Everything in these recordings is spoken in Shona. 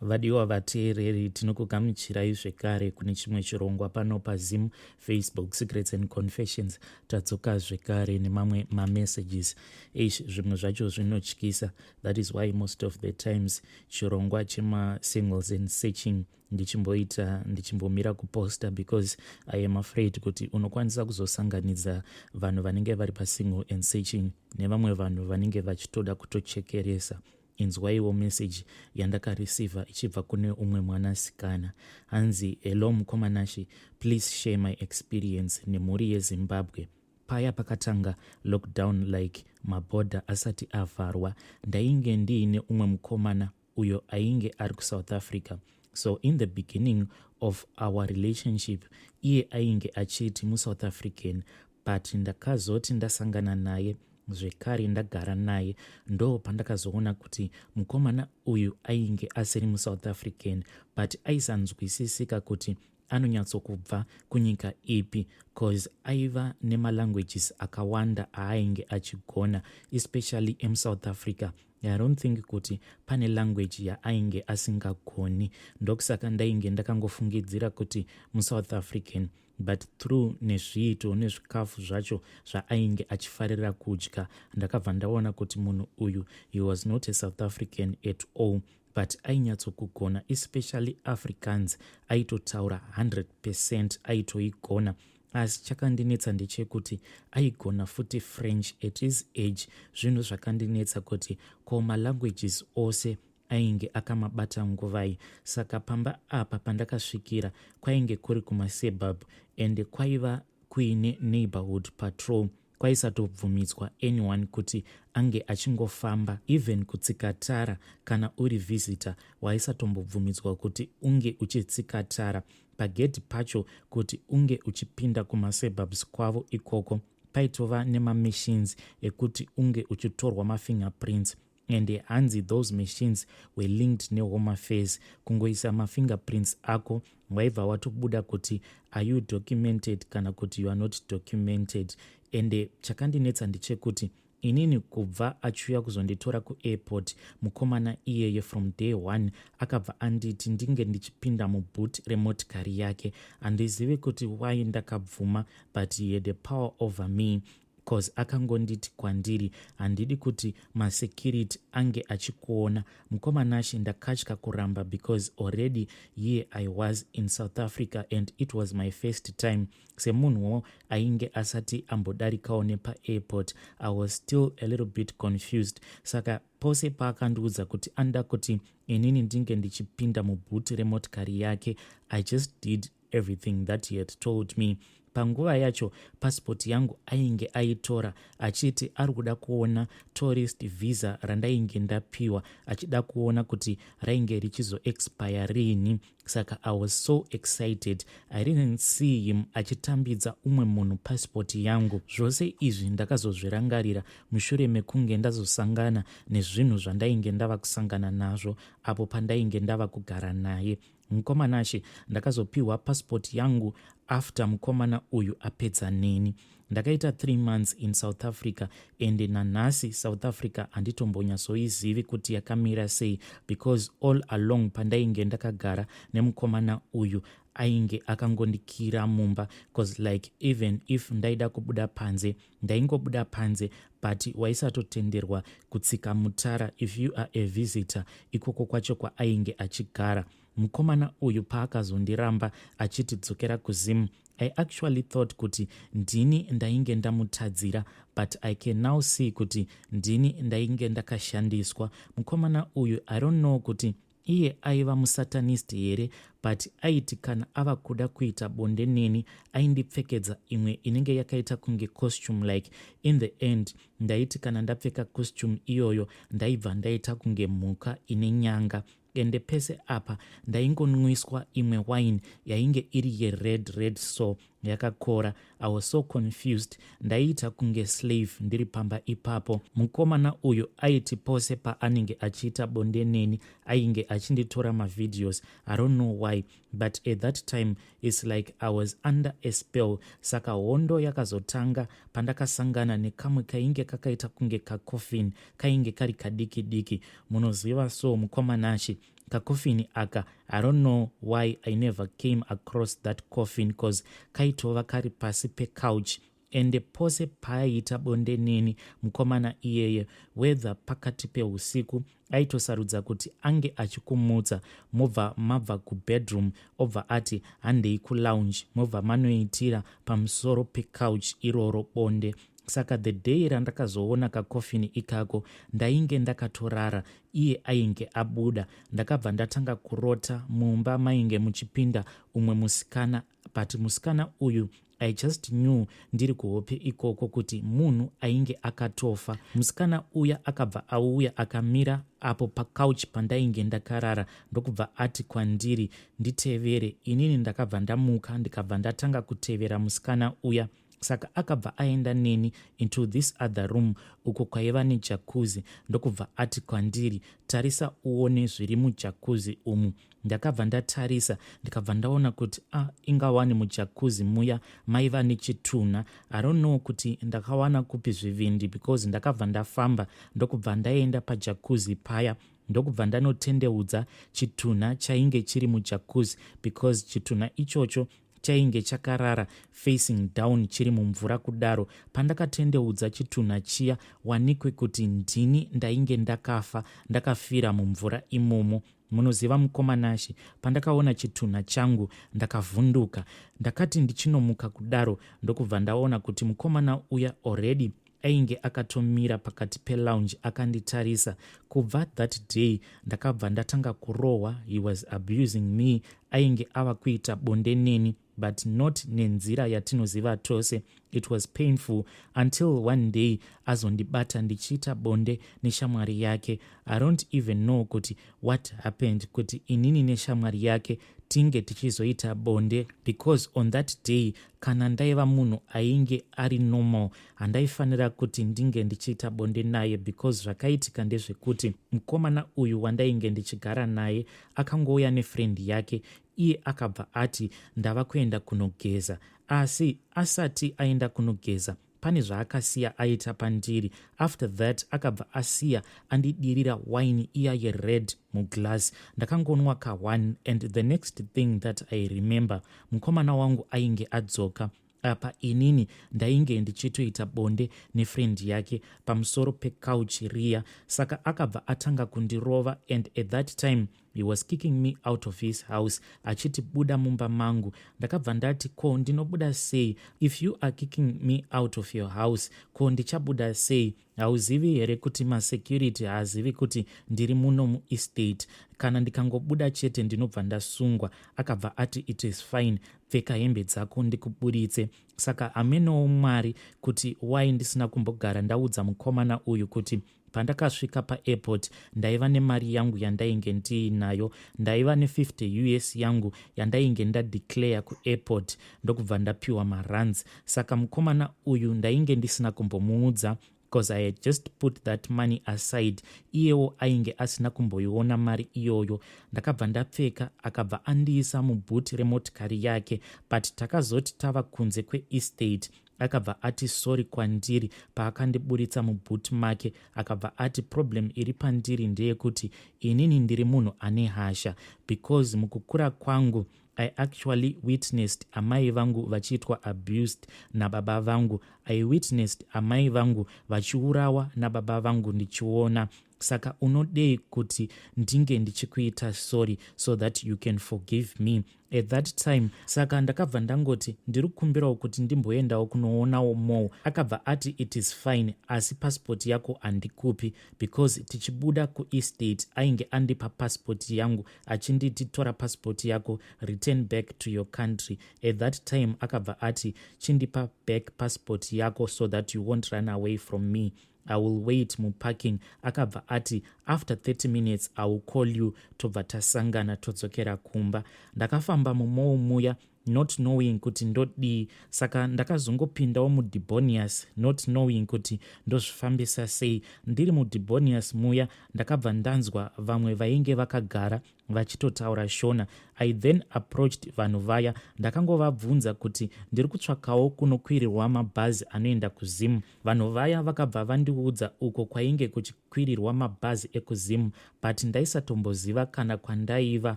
Vadiwa vateereri, tinokugamuchirai zvekare kune chimwe chirongwa pano paZim Facebook Secrets and Confessions. Tadzoka zvekare nemamwe mamessages. Eish, zvimwe zvacho zvinotyisa. That is why most of the times chirongwa chemasingles and searching ndichimboita ndichimbomira kuposta because i am afraid kuti unokwanisa kuzosanganidza vanhu vanenge vari pasingle and searching nevamwe vanhu vanenge vachitoda kutochekeresa Inzwaiwo message yandakareceiver ichibva kune umwe mwanasikana. Hanzi, Hello mukoma Nashy, please share my experience nemhuri yeZimbabwe. Paya pakatanga lockdown like maborder asati avharwa, ndainge ndiine umwe mukomana uyo ainge ari kuSouth Africa. So in the beginning of our relationship, iye ainge achiti muSouth African but ndakazoti ndasangana naye zvekare ndagara naye ndo pandakazoona kuti mukomana uyu ainge asiri musouth african but aisanzwisisika kuti anonyatsokubva kunyika ipi cause aiva nemalanguages akawanda aainge achigona especially emusouth africa i don't think kuti pane language yaainge asingagoni ndokusaka ndainge ndakangofungidzira kuti musouth african but through nezviito nezvikafu zvacho zvaainge achifarira kudya ndakabva ndaona kuti munhu uyu he was not a south african at all but ainyatsokugona especially africans aitotaura 100 percent aitoigona asi chakandinetsa ndechekuti aigona futi french at his age zvinhu zvakandinetsa kuti ko malanguages ose ainge akamabata nguvai saka pamba apa pandakasvikira kwainge kuri kumasuburb ende kwaiva kuine neighborhood patrol kwaisatobvumidzwa anyone kuti ange achingofamba even kutsika tara kana uri visitor waisatombobvumidzwa kuti unge uchitsika tara pagedhi pacho kuti unge uchipinda kumasuburbs kwavo ikoko paitova nemamachines ekuti unge uchitorwa mafingerprints and hanzi those machines were linked nehome affairs kungoisa mafingerprints ako waibva watobuda kuti are you documented kana kuti you are not documented ende chakandinetsa ndechekuti inini kubva achiuya kuzonditora kuairport mukomana iyeye from day one akabva anditi ndinge ndichipinda muboot remotikari yake handizivi kuti why ndakabvuma but he had a power over me coz akangonditi kwandiri handidi kuti masecurity ange achikuona mukoma nashe ndakatya kuramba because already here i was in south africa and it was my first time semunhuwo ainge asati ambodarikawo nepaairport i was still a little bit confused saka pose paakandiudza kuti anoda kuti inini ndinge ndichipinda mubhuti remotikari yake i just did Everything that he had told me panguva yacho pasipoti yangu ainge aitora achiti ari kuda kuona tourist visa randainge ndapiwa achida kuona kuti rainge richizoexpire riini saka i was so excited i didn't see him achitambidza umwe munhu pasipoti yangu zvose izvi ndakazozvirangarira mushure mekunge ndazosangana nezvinhu zvandainge ndava kusangana nazvo apo pandainge ndava kugara naye Mkoma Nashe, ndakazopihwa passport yangu after mukomana uyu apedza neni. Ndakaita three months in South Africa ende nanhasi South Africa handitombonyatsoizivi kuti yakamira sei because all along pandainge ndakagara nemukomana uyu ainge akangondikira mumba bcause like even if ndaida kubuda panze ndaingobuda panze but waisatotenderwa kutsika mutara if you are a visitor ikoko kwacho kwaainge achigara mukomana uyu paakazondiramba achiti dzokera kuzimu i actually thought kuti ndini ndainge ndamutadzira but i can now see kuti ndini ndainge ndakashandiswa mukomana uyu i don't know kuti Iye aiva musatanist here but aiti kana ava kuda kuita bonde neni aindipfekedza imwe inenge yakaita kunge costume like in the end ndaiti kana ndapfeka costume iyoyo ndaibva ndaita kunge mhuka ine nyanga ende pese apa ndaingonwiswa imwe wine yainge iri yered red so yakakora i was so confused ndaiita kunge slave ndiri pamba ipapo mukomana uyu aiti pose paanenge achiita bonde neni ainge achinditora mavideos i don't know why but at that time its like i was under a spell saka hondo yakazotanga pandakasangana nekamwe kainge kakaita kunge kacoffin kainge kari kadiki diki munoziva so mukomanashi kacoffin aka i don't know why i never came across that coffin cause kaitova kari pasi pecouch ende pose paaiita bonde neni mukomana iyeye wether pakati peusiku aitosarudza kuti ange achikumutsa mobva mabva kubedroom obva ati handei kulounge mobva manoitira pamusoro pecouch iroro bonde saka the day randakazoona kacoffin ikako ndainge ndakatorara iye ainge abuda ndakabva ndatanga kurota mumba mainge muchipinda umwe musikana but musikana uyu i just knew ndiri kuhope ikoko kuti munhu ainge akatofa musikana uya akabva auya akamira apo pacouch pandainge ndakarara ndokubva ati kwandiri nditevere inini ndakabva ndamuka ndikabva ndatanga kutevera musikana uya saka akabva aenda neni into this other room uko kwaiva nejakuzi ndokubva ati kwandiri tarisa uone zviri mujakuzi umu ndakabva ndatarisa ndikabva ndaona kuti a ah, ingawani mujakuzi muya maiva nechitunha aronow kuti ndakawana kupi zvivindi because ndakabva ndafamba ndokubva ndaenda pajakuzi paya ndokubva ndanotendeudza chitunha chainge chiri mujakuzi because chitunha ichocho chainge chakarara facing down chiri mumvura kudaro pandakatendeudza chitunha chiya wanikwe kuti ndini ndainge ndakafa ndakafira mumvura imomo munoziva mukoma nashe pandakaona chitunha changu ndakavhunduka ndakati ndichinomuka kudaro ndokubva ndaona kuti mukomana uya already ainge akatomira pakati pelounge akanditarisa kubva that day ndakabva ndatanga kurohwa he was abusing me ainge ava kuita bonde neni but not nenzira yatinoziva tose it was painful until one day azondibata ndichiita bonde neshamwari yake i don't even know kuti what happened kuti inini neshamwari yake tinge tichizoita bonde because on that day kana ndaiva munhu ainge ari normal handaifanira kuti ndinge ndichiita bonde naye because zvakaitika ndezvekuti mukomana uyu wandainge ndichigara naye akangouya nefriend yake iye akabva ati ndava kuenda kunogeza asi asati aenda kunogeza pane zvaakasiya aita pandiri after that akabva asiya andidirira wine iya yered muglass ndakangonwa ka one and the next thing that i remember mukomana wangu ainge adzoka apa inini ndainge ndichitoita bonde nefriend yake pamusoro pecouch riya saka akabva atanga kundirova and at that time he was kicking me out of his house achiti buda mumba mangu ndakabva ndati ko ndinobuda sei if you are kicking me out of your house ko ndichabuda sei hauzivi here kuti masecurity haazivi kuti ndiri muno muestate kana ndikangobuda chete ndinobva ndasungwa akabva ati it is fine pfeka hembe dzako ndikuburitse saka hamenowo mwari kuti why ndisina kumbogara ndaudza mukomana uyu kuti Pandakasvika paairport ndaiva nemari yangu yandainge ndiinayo. Ndaiva ne50 us yangu yandainge ndadeclare kuairport ndokubva ndapiwa maruns. Saka mukomana uyu ndainge ndisina kumbomuudza because i had just put that money aside iyewo ainge asina kumboiona mari iyoyo ndakabva ndapfeka akabva andiisa mubhuti remotikari yake but takazoti tava kunze kweestate akabva ati sorry kwandiri paakandiburitsa muboot make akabva ati problem iri pandiri ndeyekuti inini ndiri munhu ane hasha because mukukura kwangu i actually witnessed amai vangu vachiitwa abused nababa vangu i witnessed amai vangu vachiurawa nababa vangu ndichiona saka unodei kuti ndinge ndichikuita sorry so that you can forgive me at that time saka ndakabva ndangoti ndiri kukumbirawo kuti ndimboendawo kunoonawo mall akabva ati it is fine asi pasipoti yako handikupi because tichibuda kuestate ainge andipa pasipoti yangu achinditi tora pasipoti yako return back to your country at that time akabva ati chindipa back pasipoti yako so that you won't run away from me i will wait muparking akabva ati after 30 minutes i will call you tobva tasangana todzokera kumba ndakafamba mumou muya not knowing kuti ndodii saka ndakazongopindawo mudibonius not knowing kuti ndozvifambisa sei ndiri mudibonius muya ndakabva ndanzwa vamwe vainge vakagara vachitotaura shona i then approached vanhu vaya ndakangovabvunza kuti ndiri kutsvakawo kunokwirirwa mabhazi anoenda kuzimu Vanhu vaya vakabva vandiudza uko kwainge kuchikwirirwa mabhazi ekuZim but ndaisatomboziva kana kwandaiva.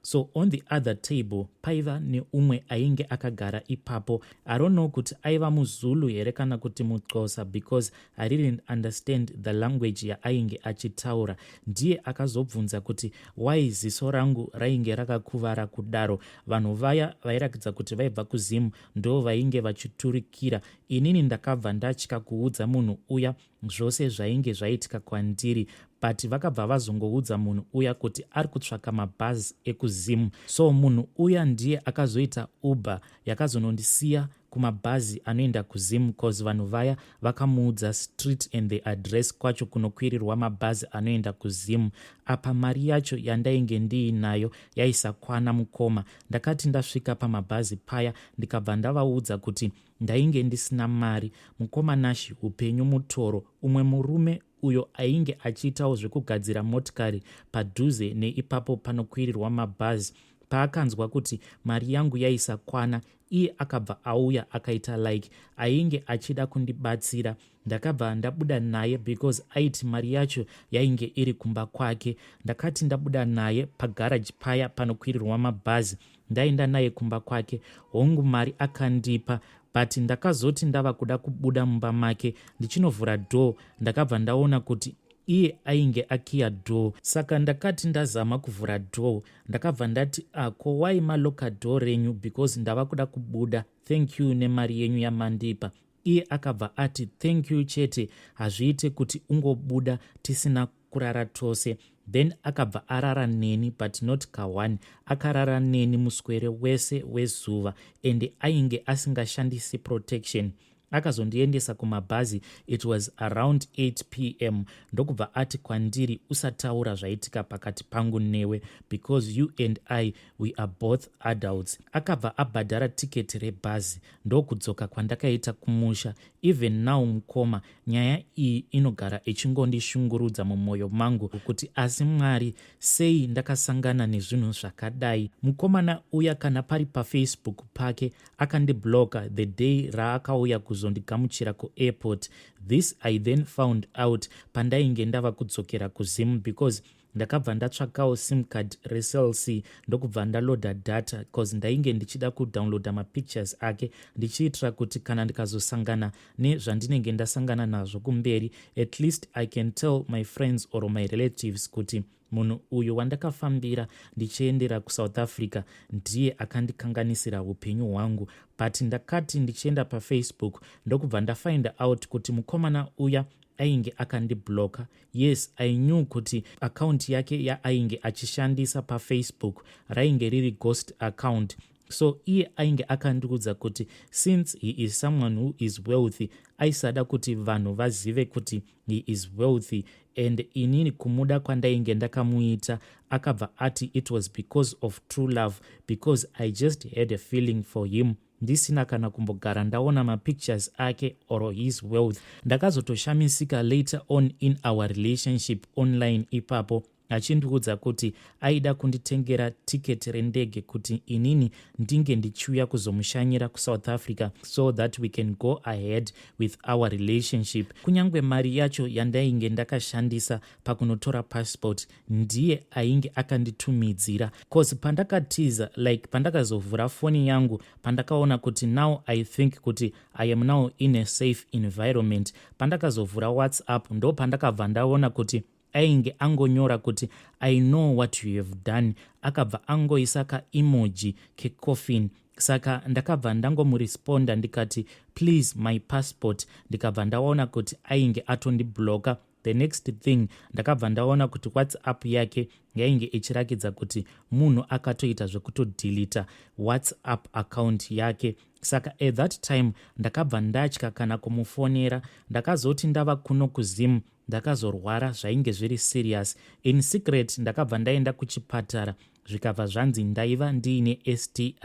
So on the other table paiva neumwe ainge akagara ipapo. I don't know kuti aiva muZulu here kana kuti muXhosa because I didn't understand the language yaainge achitaura. Ndiye akazobvunza kuti why ziso rangu rainge rakakuvara kudaro. Vanhu vaya vairakidza kuti vaibva kuZim ndo vainge vachiturikira Inini ndakabva ndatya kuudza munhu uya zvose zvainge zvaitika kwandiri but vakabva vazongoudza munhu uya kuti ari kutsvaka mabhazi ekuzim so munhu uya ndiye akazoita uber yakazonondisiya kumabhazi anoenda kuzim cause vanhu vaya vakamuudza street and the address kwacho kunokwirirwa mabhazi anoenda kuzim apa mari yacho yandainge ndiinayo yaisakwana mukoma ndakati ndasvika pamabhazi paya ndikabva ndavaudza kuti Ndainge ndisina mari, mukoma Nashi hupenyu mutoro. Umwe murume uyo ainge achiitawo zvekugadzira motikari padhuze neipapo panokwirirwa mabhazi paakanzwa kuti mari yangu yaisakwana iye akabva auya akaita like ainge achida kundibatsira ndakabva ndabuda naye because aiti mari yacho yainge iri kumba kwake ndakati ndabuda naye pagaraji paya panokwirirwa mabhazi ndaenda naye kumba kwake hongu mari akandipa but ndakazoti ndava kuda kubuda mumba make ndichinovhura door ndakabva ndaona kuti iye ainge akiya door saka ndakati ndazama kuvhura door ndakabva ndati ako ah, wai maloka door renyu because ndava kuda kubuda thank you nemari yenyu yamandipa iye akabva ati thank you chete hazviite kuti ungobuda tisina kurara tose then akabva arara neni but not kahwani akarara neni muswere wese wezuva ende ainge asingashandisi protection akazondiendesa kumabhazi it was around 8 p m ndokubva ati kwandiri usataura zvaitika pakati pangu newe because you and i we are both adults akabva abhadhara tiketi rebhazi ndokudzoka kwandakaita kumusha even now mukoma nyaya iyi inogara ichingondishungurudza mumwoyo mangu kuti asi mwari sei ndakasangana nezvinhu zvakadai mukomana uya kana pari pafacebook pake akandibloka the day raakauya kuzondigamuchira kuairport this i then found out pandainge ndava kudzokera kuzim because ndakabva ndatsvakawo sim card recelc ndokubva ndaloader data bcause ndainge ndichida kudownloada mapictures ake ndichiitira kuti kana ndikazosangana nezvandinenge ndasangana nazvo kumberi at least i can tell my friends or my relatives kuti munhu uyu wandakafambira ndichiendera kusouth africa ndiye akandikanganisira upenyu hwangu but ndakati ndichienda pafacebook ndokubva ndafinda out kuti mukomana uya ainge akandiblocker Yes I knew kuti account yake yaainge achishandisa pafacebook rainge riri ghost account so iye ainge akandiudza kuti since he is someone who is wealthy aisada kuti vanhu vazive kuti he is wealthy and inini kumuda kwandainge ndakamuita akabva ati it was because of true love because i just had a feeling for him ndisina kana kumbogara ndaona mapictures ake or his wealth ndakazotoshamisika later on in our relationship online ipapo achindiudza kuti aida kunditengera tiketi rendege kuti inini ndinge ndichiuya kuzomushanyira kusouth africa so that we can go ahead with our relationship kunyange mari yacho yandainge ndakashandisa pakunotora passport ndiye ainge akanditumidzira cause pandakatiza like pandakazovhura foni yangu pandakaona kuti now i think kuti i am now in a safe environment pandakazovhura whatsapp ndo pandakabva ndaona kuti ainge angonyora kuti i know what you have done akabva angoisa kaemoji kecoffin saka ndakabva ndangomuresponda ndikati please my passport ndikabva ndaona kuti ainge atondibloka the next thing ndakabva ndaona kuti whatsapp yake yainge ichirakidza kuti munhu akatoita zvekutodhilita whatsapp account yake saka at that time ndakabva ndatya kana kumufonera ndakazoti ndava kuno kuzim ndakazorwara zvainge zviri serious in secret ndakabva ndaenda kuchipatara zvikabva zvanzi ndaiva ndiine sti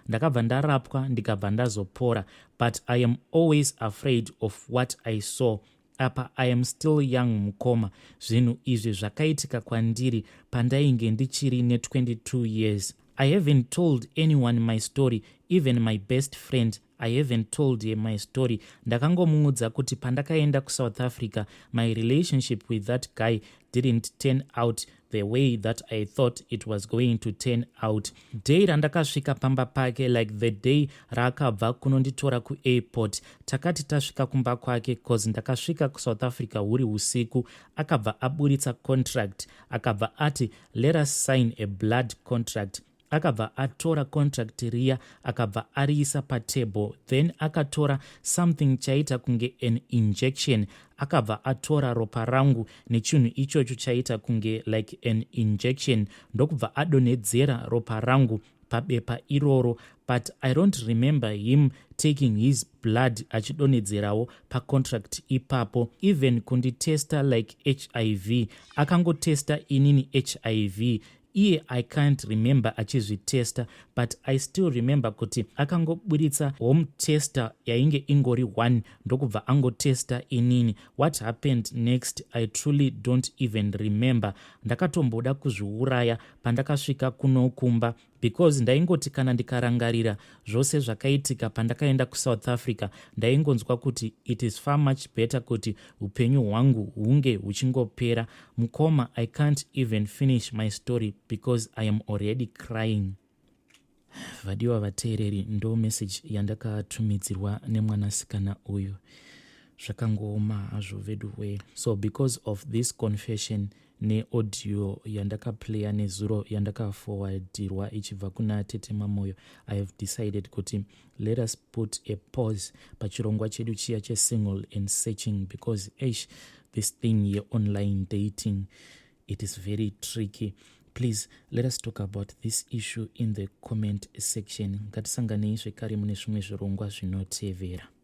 ndakabva ndarapwa ndikabva ndazopora but i am always afraid of what i saw apa i am still young mukoma zvinhu izvi zvakaitika kwandiri pandainge ndichiri ne22 years i haven't told anyone my story even my best friend i haven't told her my story ndakangomuudza kuti pandakaenda kusouth africa my relationship with that guy didn't turn out the way that i thought it was going to turn out day randakasvika pamba pake like the day raakabva kunonditora kuairport takati tasvika kumba kwake cause ndakasvika kusouth africa huri usiku akabva aburitsa contract akabva ati let us sign a blood contract akabva atora contract riya akabva ariisa patable then akatora something chaiita kunge an injection akabva atora ropa rangu nechinhu ichocho chaiita kunge like an injection ndokubva adonhedzera ropa rangu pabepa iroro but i don't remember him taking his blood achidonhedzerawo pacontract ipapo even kunditesta like hiv akangotesta inini hiv iye i can't remember achizvitesta but i still remember kuti akangoburitsa home tester yainge ingori one ndokubva angotesta inini what happened next i truly don't even remember ndakatomboda kuzviuraya pandakasvika kunokumba because ndaingoti kana ndikarangarira zvose zvakaitika pandakaenda kusouth africa ndaingonzwa kuti it is far much better kuti upenyu hwangu hunge huchingopera mukoma i can't even finish my story because i am already crying vadiwa vateereri ndo meseji yandakatumidzirwa nemwanasikana uyu zvakangooma hazvo veduwee so because of this confession neaudio yandakaplaya nezuro yandakafowadirwa ichibva kuna tete mamoyo i have decided kuti let us put a pause pachirongwa chedu chiya chesingle and searching because ash this thing yeonline dating it is very tricky please let us talk about this issue in the comment section ngatisanganei zvekare mune zvimwe zvirongwa zvinotevera